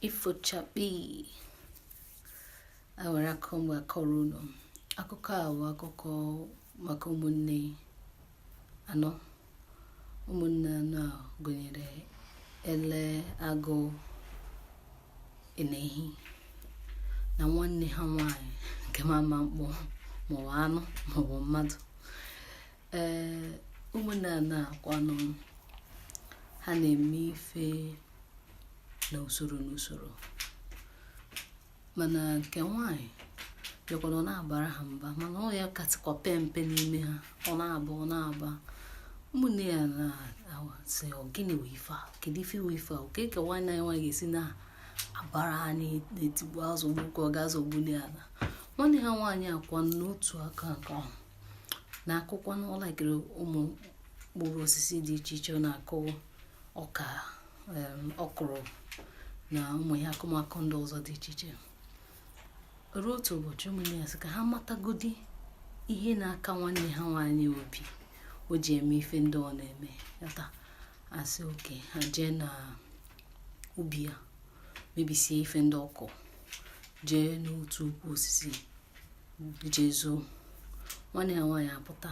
ifochakpi enwere akụkọ m ga-akọrọ unu akụkọ a bụ akụkọ maka ụmụnne anọ ụmụnne anọ a gụnyere ele agụ enehi na nwanne ha nwanyị nke ma ama mkpọ maọbụ anụ maọbụ mmadụ ee ụmụnne anọ a kwanụ ha na-eme ife na usoro na usoro mana nke nwaanyị bịakwara ọ na-abara ha mba mana ọ ya katịkwa pe mpe n'ime ha ọ na-aba ọ na-aba ụmụnne ya na-asị ọ gịnị wụ ife a kedu ife wụ ife a kee ka nwanne anyị nwaanyị ga-esi na-abara ha na-etigbu azọgbu ka ọ ga-azọgbu ala nwanne ha nwaanyị a kwa n'otu aka nke ahụ na-akụkwanụ ọlakịrị ụmụ mkpụrụ osisi dị iche iche ọ na-akụ ọka ọkwụrụ na ụmụ ihe akụmakụ ndị ọzọ dị iche iche ruo otu ụbọchị ụmụnne ya sị ka ha matagodi ihe na-aka nwanne ha nwaanyị obi o ji eme ife ndị ọ na-eme yata asị okay ha jee na ubi ya mebisie ife ndị ọ kụ jee n'otu ukwu osisi jee zoo nwanne ha nwaanyị apụta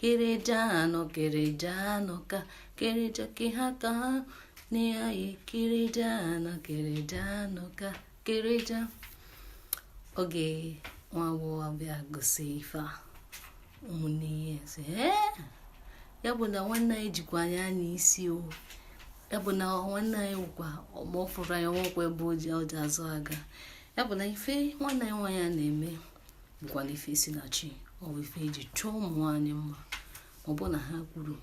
kereja nọ kereja nọ ka kereja ke ha ka nne ya kereja nọ kereja nọ ka kereja oge nwa agbọghọ a bịa gụsị ife a ụmụnne ya sị ya bụ na nwanne anyị jikwa anya n'isi o ya bụ na nwanne anyị wụkwa ma ọ fụrụ anyị o nwekwa ebe o ji azụ aga ya bụ na ife nwanne anyị nwaanyị a na-eme bụkwanụ ife si na chi ọ bụ ife eji chọọ ụmụ nwaanyị mma ọ bụ na ha kwuru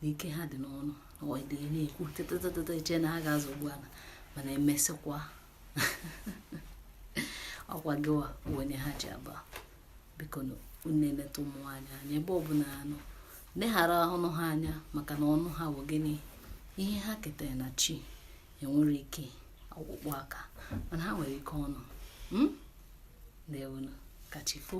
na ike ha dị n'ọnụ ọdị na-ekwu tetetetete i chee na ha ga-azọgbu ala mana emesịkwa ọkwa gịwa wụ onye ha ji aba bikonụ na-eleta ụmụ nwaanyị anya ebe ọ bụla ha nọ leghara ọnụ ha anya maka na ọnụ ha bụ gịnị ihe ha ketara na chi enwere ike ọkpụkpụ aka mana ha nwere ike ọnụ hmm? ndewonụ kachifo